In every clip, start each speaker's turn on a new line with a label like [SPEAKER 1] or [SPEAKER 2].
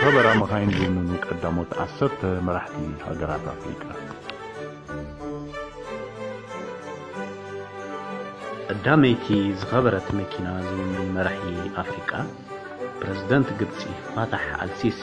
[SPEAKER 1] ዝኸበራ መኻይን ዝውንኑ ቀዳሞት ዓሰርተ መራሕቲ ሃገራት ኣፍሪቃ ቀዳመይቲ
[SPEAKER 2] ዝኸበረት መኪና ዝውንን መራሒ ኣፍሪቃ ፕረዚደንት ግብጺ ፋታሕ ኣልሲሲ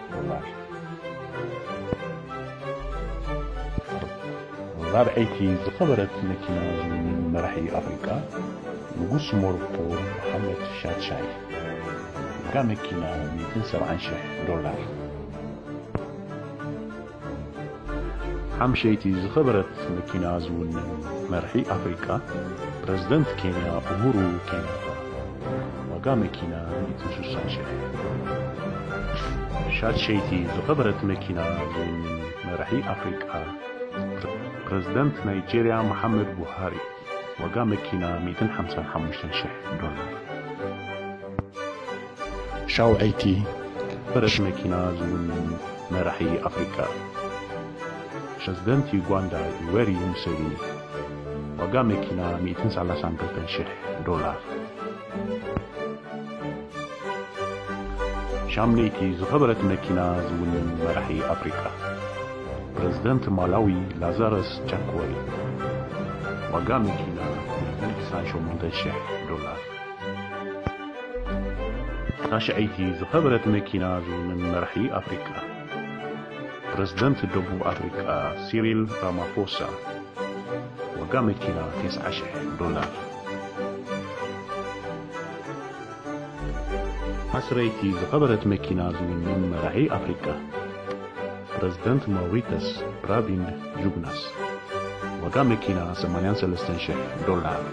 [SPEAKER 1] ራብዐይቲ ዝኸበረት መኪና ዝውንን መራሒ ኣፍሪቃ ንጉስ ሞሮኮ መሓመድ ሻድሻይ ዋጋ መኪና ሚእትን ሰብዓን ሽሕ ዶላር። ሓምሸይቲ ዝኸበረት መኪና ዝውንን መርሒ ኣፍሪቃ ፕረዚደንት ኬንያ ኡሁሩ ኬንያታ፣ ዋጋ መኪና ሚእትን ሱሳን ሽሕ። ሻድሸይቲ ዝኸበረት መኪና ዝውንን መራሒ ኣፍሪቃ ፕረዚደንት ናይጀርያ መሓመድ ቡሃሪ፣ ዋጋ መኪና ሚእትን ሓምሳን ሓሙሽተን ሽሕ ዶላር። ሻውዐይቲ ፈረስ መኪና ዝውንን መራሒ ኣፍሪቃ ፕረዚደንት ዩጋንዳ ዩዌሪ ሙሴቪኒ ዋጋ መኪና ሚእትን ሰላሳን ክልተን ሽሕ ዶላር። ሻምነይቲ ዝኸበረት መኪና ዝውንን መራሒ ኣፍሪቃ ፕረዚደንት ማላዊ ላዛረስ ቻክወይ ዋጋ መኪና ናይ ክሳን ሸሞንተ ሽሕ ዶላር ታሽዐይቲ ዝኸበረት መኪና ዝውንን መራሒ ኣፍሪቃ ፕረዚደንት ደቡብ ኣፍሪቃ ሲሪል ራማፎሳ ዋጋ መኪና ቴስዓ ሽሕ ዶላር። ዓስረይቲ ዝኸበረት መኪና ዝውንን መራሒ ኣፍሪቃ ፕረዚደንት ማውሪተስ ፕራቪንድ ጁግናስ። ዋጋ መኪና ሰማንያን ሰለስተን ሽሕ ዶላር።